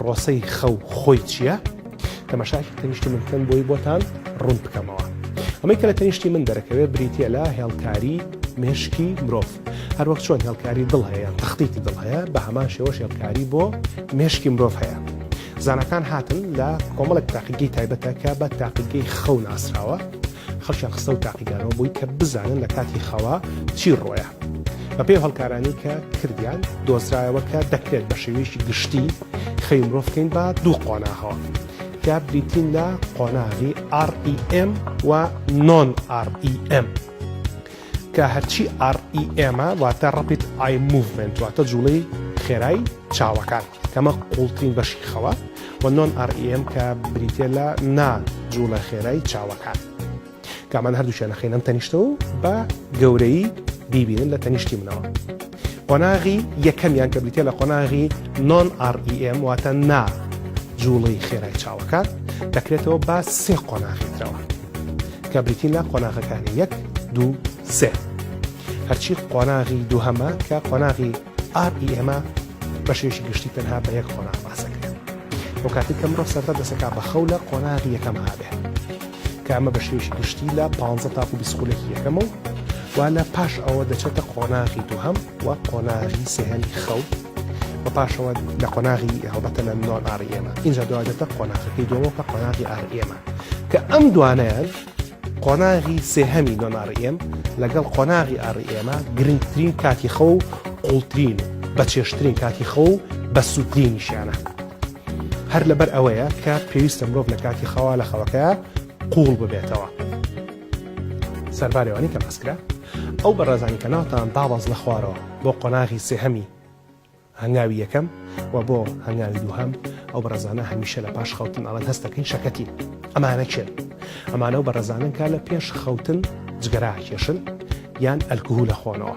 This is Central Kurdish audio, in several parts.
پرۆسەی خەو خۆی چییە؟ تەمەشاکی تەنیشتی من بکەن بۆی بۆتان ڕوون بکەمەوە. ئەمەی کە لە تەنیشتی من دەرەکەوێت بریتە لە هێڵکاری مێشکی مرۆڤ. هەروەک چۆن هێڵکاری دڵ هەیە تەختیتی دڵ هەیە بە هەمان شێوەش هێڵکاری بۆ مێشکی مرۆڤ هەیە. زانکان هاتن لە کۆمەڵک تاقیگەی تایبەتە کە بە تاقیگەی خەو ناسراوە خەڵکیان خستە و تاقیگانەوە بووی کە بزانن لە کاتی خەوا چی ڕۆیە بە پێی هەڵکارانی کە کردیان دۆزرایەوە کە دەکرێت بە شێوەیەکی گشتی خەوی مرۆڤ بکەین بە دوو قۆناغەوە کە بریتین لە قۆناغی REM و نۆن REM کە هەرچی ئاڕ ئی ئێمە واتە ڕەپید ئای موڤمێنت واتە جووڵەی خێرای چاوەکان کەمە قووڵترین بەشی خەوە و نۆن ئاڕ ئی ئێم کە بریتە لە نا جووڵە خێرای چاوەکان کامانە هەردووچیانەخینەم تەنیشتەوە بە گەورەی بیبینن لە تەنیشتی منەوە. قۆناغی یەکەمیان کە بریتە لە قۆناغی نۆن REM واتە نا جوڵەی خێرای چاوەکە دەکرێتەوە بە سێ قۆناغی ترەوە کە بریتین لە قۆناغەکانی یەک دوو سێ هەرچی قۆناغی دووهەمە کە قۆناغی ئاپی ئێمە بەشێکی گشتی تەنها بە یەک قۆناغ باسەکرێت ئەو کاتی کە مرۆ سەرتا دەسەکە بە خەو لە قۆناغی یەکەم هابێ کە ئەمە بە شێوەیەکی گشتی لە پانزە تاکو بیست خولەکی یەکەمە و وا لە پاش ئەوە دەچێتە قۆناغی دووهەم و قۆناغی سێهەمی خەو بە پاشەوە لە قۆناغی هەڵبەتە لە نۆن ئاڕ ئێمە ئینجا دوادێتە قۆناغەکەی دووەمە کە قۆناغی ئاڕ ئێمە کە ئەم دوانەیان قۆناغی سێهەمی نۆن ئاڕ ئێم لەگەڵ قۆناغی ئاڕ ئێمە گرنگترین کاتی خەو و قوڵترین و بەچێشترین کاتی خەو و بە سووترینیشیانە هەر لەبەر ئەوەیە کە پێویستە مرۆڤ لە کاتی خەوا لە خەوەکەیە قووڵ ببێتەوە سەربارەوانی کە بەسکرا ئەو بەڕێزانی کە ناوتان دابەز لە خوارەوە بۆ قۆناغی سێهەمی هەنگاوی یەکەم و بۆ هەنگاوی دووهەم ئەو بەڕێزانە هەمیشە لە پاش خەوتن ئەڵەن هەستەکەین شەکەتی ئەمانە چێن ئەمانە و بەڕێزانن کا لە پێش خەوتن جگەرا کێشن یان ئەلکهول لە خۆنەوە.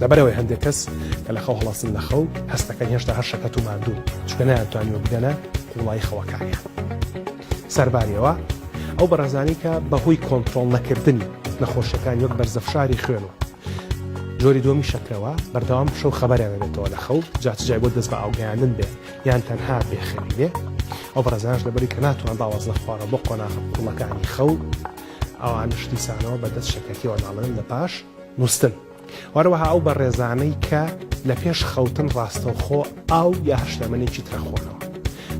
لەبەرئەوەی هەندێک کەس کە لە خەو هەڵەسن لە خەو هەست دەکەن هێشتا هەر شەکەت و ماندوون چکە نەیانتوانیوە بگەنە قوڵایی خەوەکانیان سەرباریەوە ئەو بەڕێزانی کە بەهۆی کۆنتترۆل نەکردنی نەخۆشیەکان وەک بەرزەفشاری خوێن و جۆری دومی شەکرەوە بەردەوام شەو خەبەریان دەبێتەوە لە خەو جاچجای بۆ دەست بە ئاوگەیاندن بێ یان تەنها بێخێنی بێ ئەو بەڕزانش لەبەری کە ناتوان باواز نەخوارە بۆ قۆناغ کوڵەکانی خەو ئەوان شتیسانەوە بەدەست شەکەتیەوە ناڵێن لە پاش نووستن، هەروەها ئەو بەڕێزانەی کە لە پێش خەوتن ڕاستەوخۆ ئاو یا هەر شلەمەنێکی تر ئەخۆنەوە،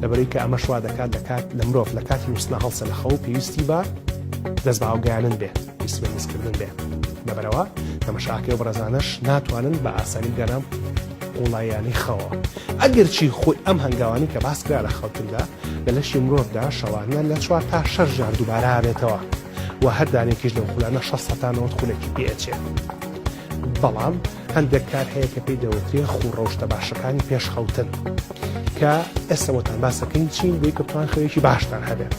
لەبەرئەوەی کە ئەمەش وا دەکات لە کات لە مرۆڤ لە کاتی نووستنا هەڵسێ لە خەو و پێویستی بە دەست بە ئاوگەیانن بێ، پێویستی بە میزکردن بێ. لەبەرئەوە تەمەشاکە ئەو بەڕێزانەش ناتوانن بە ئاسانی بگەنە قووڵاییانەی خەوەوە. ئەگەرچی خۆی ئەم هەنگاوانەی کە باس کرا لە خەوتندا لە لەشی مرۆڤدا شەوانە لە چوار تا شەش جار دووبارە ئەبێتەوە. و هەر دانەیەکیش لەو خولانە شەست هەتا نەوەد خولێکی پێ ئەچێ. بەڵام هەندێک کار هەیە کە پێی دەوترێ خوو ڕەوشتە باشەکانی پێش خەوتن کە ئێستەوەتان باسەکەین چین بۆی کە بتوان خەوێکی باشتان هەبێت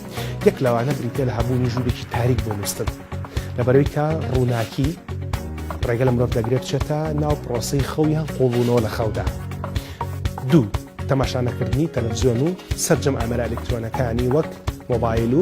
یەک لەوانە بریتە لە هەبوونی ژوورێکی تاریک بۆ نووسن لەبەرەوەی کە ڕووناکی ڕێگە لە مرۆڤ دەگرێت بچێتە ناو پرۆسی خەویان قوڵبوونەوە لە خەودا دوو تەماشانەکردنی تەلەڤزیۆن و سەرجەم ئامرا ئەلکترۆنەکانی وەک مۆبایل و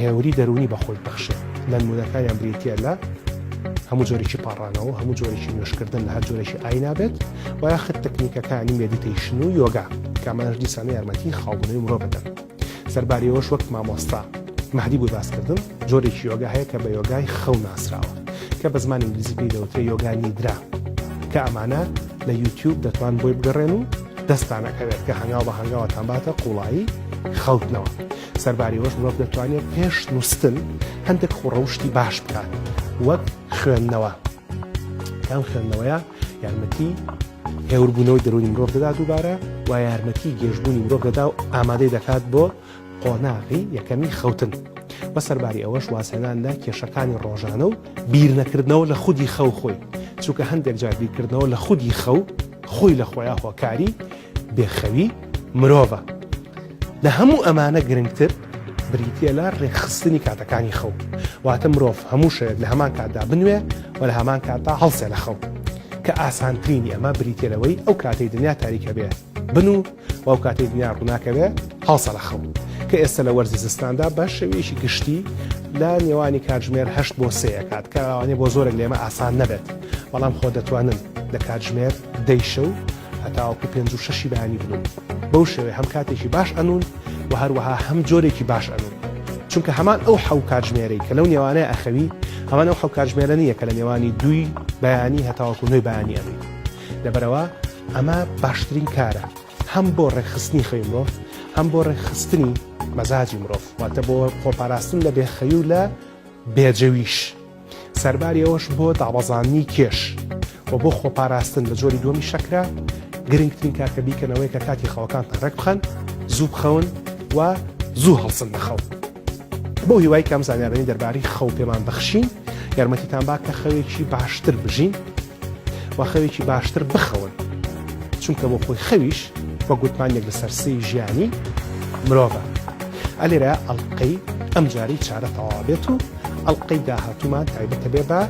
هێوری دەروونی بە خۆی بەخشێت لە نمونەکانیان بریتیە لە هەموو جۆرێکی پاڕانەوە هەموو جۆرێکی نوێشکردن لە هەر جۆرێکی ئاینابێت و یاخت تەکنیکەکانی مێدیتەیشن و یۆگا کامانش دیسانە یارمەتی خاڵبوونەوەی مرۆ بدەن سەرباریەوەش وەک مامۆستا مەهدی بۆی باسکردن جۆرێکی یۆگا هەیە کە بە یۆگای خەو ناسراوە کە بە زمانی ئینگلیزی پێی دەوترێ یۆگانی درا کە ئەمانە لە یوتیوب دەتوان بۆی بگەڕێن و دەستانەکەوێت کە هەنگاو بە هەنگاوەتان باتە قوڵایی خەوتنەوە سەرباری ئەوەش مرۆڤ دەتوانێت پێش نووستن هەندێک خوڕەوشتی باش بکات وەک خوێندنەوە کام خوێندنەوەیە یارمەتی هێوربوونەوەی دەرونی مرۆڤ دەدا دووبارە و یارمەتی گەشتبوونی مرۆڤ دەدا و ئامادەی دەکات بۆ قۆناغی یەکەمی خەوتن بە سەرباری ئەوەش وازهێنان لە کێشەکانی ڕۆژانە و بیرنەکردنەوە لە خودی خەو خۆی چونکە هەندێک جار بیرکردنەوە لە خودی خەو خۆی لە خۆیان هۆکاری بێخەوی مرۆڤە. لە هەموو ئەمانە گرنگتر بریتییە لە ڕێکخستنی کاتەکانی خەو. واتە مرۆڤ هەموو شەوێک لە هەمان کاتدا بنوێ و لە هەمان کاتدا هەڵسێ لە خەو. کە ئاسانترینی ئەمە بریتییە لەوەی ئەو کاتەی دنیا تاریکە بێ بنوو و ئەو کاتەی دنیا ڕووناکە بێ هەڵسە لە خەو. کە ئێستە لە وەرزی زستاندا بە شێوەیەکی گشتی لە نێوانی کاتژمێر هەشت بۆ سێ کات کە ئەوانەیە بۆ زۆرێک لێمە ئاسان نەبێت بەڵام خۆ دەتوانن لە کاتژمێر دەی شەو هەتاوەکو پێنج و شەشی بەیانی بنوون بەو شێوەیە هەم کاتێکی باش ئەنوون و هەروەها هەم جۆرێکی باش ئەنوون چونکە هەمان ئەو حەو کاتژمێرەی کە لەو نێوانەیە ئەخەوی هەمان ئەو حەو کاتژمێرە نییە کە لە نێوانی دووی بەیانی هەتاوەکو نوێی بەیانی ئەنوی لەبەرەوە ئەمە باشترین کارە هەم بۆ ڕێکخستنی خەوی مرۆڤ هەم بۆ ڕێکخستنی مەزاجی مرۆڤ واتە بۆ خۆپاراستن لە بێخەوی و لە بێجەویش. سەرباری ئەوەش بۆ دابەزاندنی کێش و بۆ خۆپاراستن لە جۆری دووەمی شەکرە گرنگترین کار کە بیکەن ئەوەیە کە کاتی خەوەکانتان ڕێک بخەن زوو بخەون و زوو هەڵسن لە خەو بۆ هیوای کەم زانیارانی دەربارەی خەو پێمان بەخشین یارمەتیتان با کە خەوێکی باشتر بژین و خەوێکی باشتر بخەون چونکە بۆ خۆی خەویش وە گوتمانێک لە سەرسی ژیانی مرۆڤە ئەلێرە ئەڵلقەی ئەم جاری چارە تەوا بێت و ئەڵلقەی داهاتومان تایبەتە بێ بە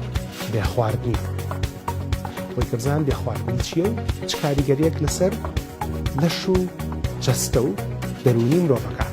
بێ خواردنی خۆی کەزان بێ خواردنی چیە و چ کاریگەریەک لەسەر لەش و جەستە و دەرونی مرۆڤەکان